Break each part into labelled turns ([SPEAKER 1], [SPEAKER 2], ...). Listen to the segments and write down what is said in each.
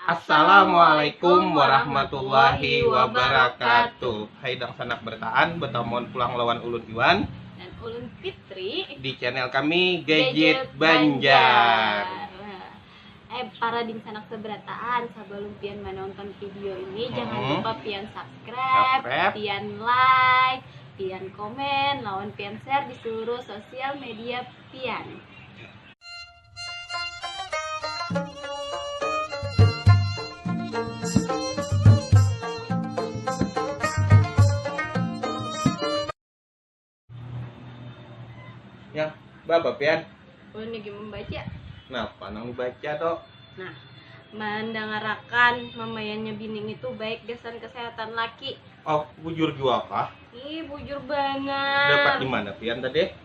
[SPEAKER 1] Assalamualaikum warahmatullahi wabarakatuh. Hai dangsanak bertaan, bertamuan pulang lawan ulun Iwan dan ulun
[SPEAKER 2] Fitri di channel kami
[SPEAKER 1] Gadget, Banjar. Nah,
[SPEAKER 2] eh para dingsanak seberataan, sebelum pian menonton video ini hmm. jangan lupa pian subscribe, subscribe, pian like, pian komen, lawan pian share di seluruh sosial media pian.
[SPEAKER 1] Yang berapa pian? Oh, ini lagi membaca.
[SPEAKER 2] Kenapa nang
[SPEAKER 1] baca toh?
[SPEAKER 2] Nah, mendangarakan memayannya bining itu baik gasan kesehatan laki. Oh, bujur
[SPEAKER 1] juga kah? Ih, bujur
[SPEAKER 2] banget. Dapat di mana pian
[SPEAKER 1] tadi?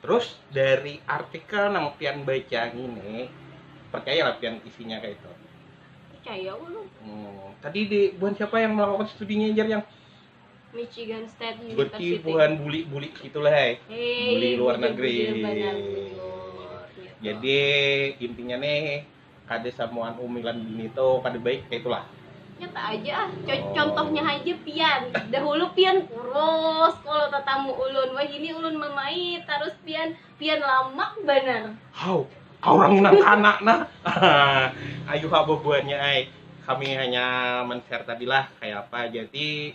[SPEAKER 1] Terus dari artikel nang pian baca ini percaya lah pian isinya kayak itu. Percaya
[SPEAKER 2] ulun. Hmm. Tadi di
[SPEAKER 1] buhan siapa yang melakukan studinya jar yang Michigan
[SPEAKER 2] State University. Berarti bukan buli-buli
[SPEAKER 1] gitulah, hey. hey buli luar negeri. Iya. Jadi intinya nih kada samuan umi lan bini tu kada baik kaya itulah. Nyata aja ah,
[SPEAKER 2] Co- Oh. contohnya haja pian. Dahulu pian kurus, kalau tatamu ulun, wahini ulun mamait, tarus pian, pian lamak banar. Hau, kaurang
[SPEAKER 1] nang kana nah. Ayuha bubuhannya ai. Kami hanya men-share tadilah kaya apa jadi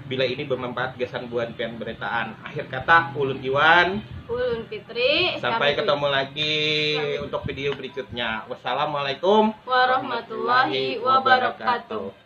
[SPEAKER 1] bila ini bermanfaat gasan buhan pian beretaan. Akhir kata, ulun Iwan. Ulun Fitri.
[SPEAKER 2] Sampai ketemu lagi
[SPEAKER 1] untuk video berikutnya. Wassalamualaikum warahmatullahi
[SPEAKER 2] wabarakatuh.